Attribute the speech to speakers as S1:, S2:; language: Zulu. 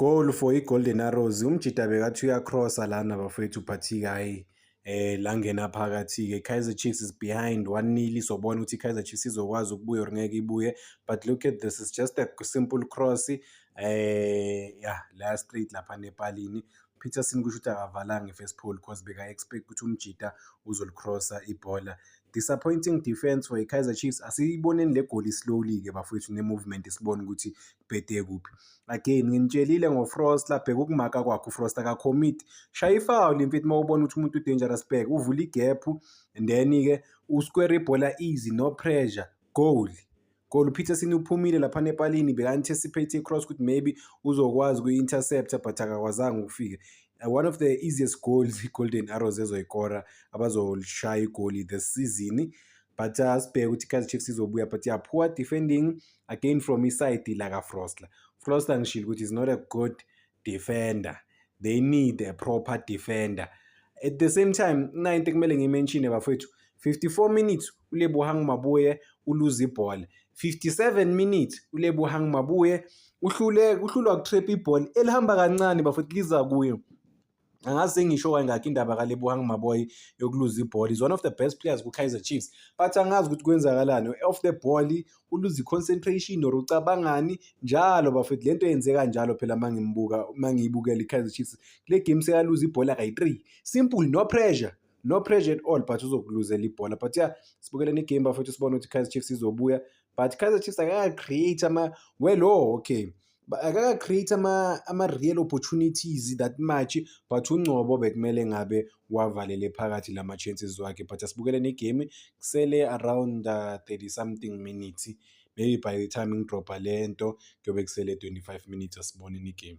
S1: Goal for iGolden Arrows. Umjita bekathi uyacrossa lana bafowethu but hhayi eh la ngena phakathi-ke Kaizer Chiefs is behind 1-0 izobona ukuthi iKaizer Chiefs izokwazi ukubuya or ngeke ibuye but look at this is just a simple cross eh yeah la straight lapha nepalini Peterson kusho ukuthi akavalanga i-first pole because beka-expect ukuthi umjita uzolicrossa ibhola disappointing defense for iKaizer Chiefs asiyiboneni le goli slowly-ke bafowethu ne-movement sibone ukuthi ubhede kuphi again nginitshelile ngofrosta bheka ukumaka kwakhe ufrost akakhomiti shaya ifawuli mfethu uma ubona ukuthi umuntu udangerous back uvula igephu and then-ke usquare ibhola easy no pressure goal goal upeterson uphumile lapha nepalini beka-anticipate icross ukuthi maybe uzokwazi kuyi-intercepta but akakwazanga ukufika Uh, one of the easiest goals i-golden arrows ezoyikora abazolishaya igoli this season but uh, sibheke ukuthi i-kaizer chiefs izobuya but yeah poor defending again from iside lakaFrostler Frostler ngishilo ukuthi is not a good defender they need a proper defender at the same time kuyinto ekumele ngiyimenshine bafethu 54 minutes uLebohang Mabuye uluza ibhola 57 minutes uLebohang Mabuye uhlule uhlulwa ukutrap ibhola elihamba kancane bafethu liza kuyo angazi sengisho kangakho indaba kalebohang maboy yokuluza ibhola is one of the best players ku-kaizer chiefs but angazi ukuthi kwenzakalani off the ball uluza i-concentration or ucabangani njalo bafethu le nto yenzeka njalo phela uma ngimbuka uma ngiyibukela i-kaizer chiefs kule game sekaluza ibhola kayi-three simple no pressure no pressure at all but uzokuluzela ibhola but ya sibukele negame bafethu sibone ukuthi i-kaizer chiefs izobuya but i-kaizer chiefs akaka-create ama-well o oh, okay akaka-create ama-real opportunities that much but ungcobo bekumele ngabe wavalele phakathi la ma-chances wakhe but asibukele negame kusele around uh, 30 something minutes maybe by the time ngidrobha le nto kuyobe kusele 25 minutes asibone negame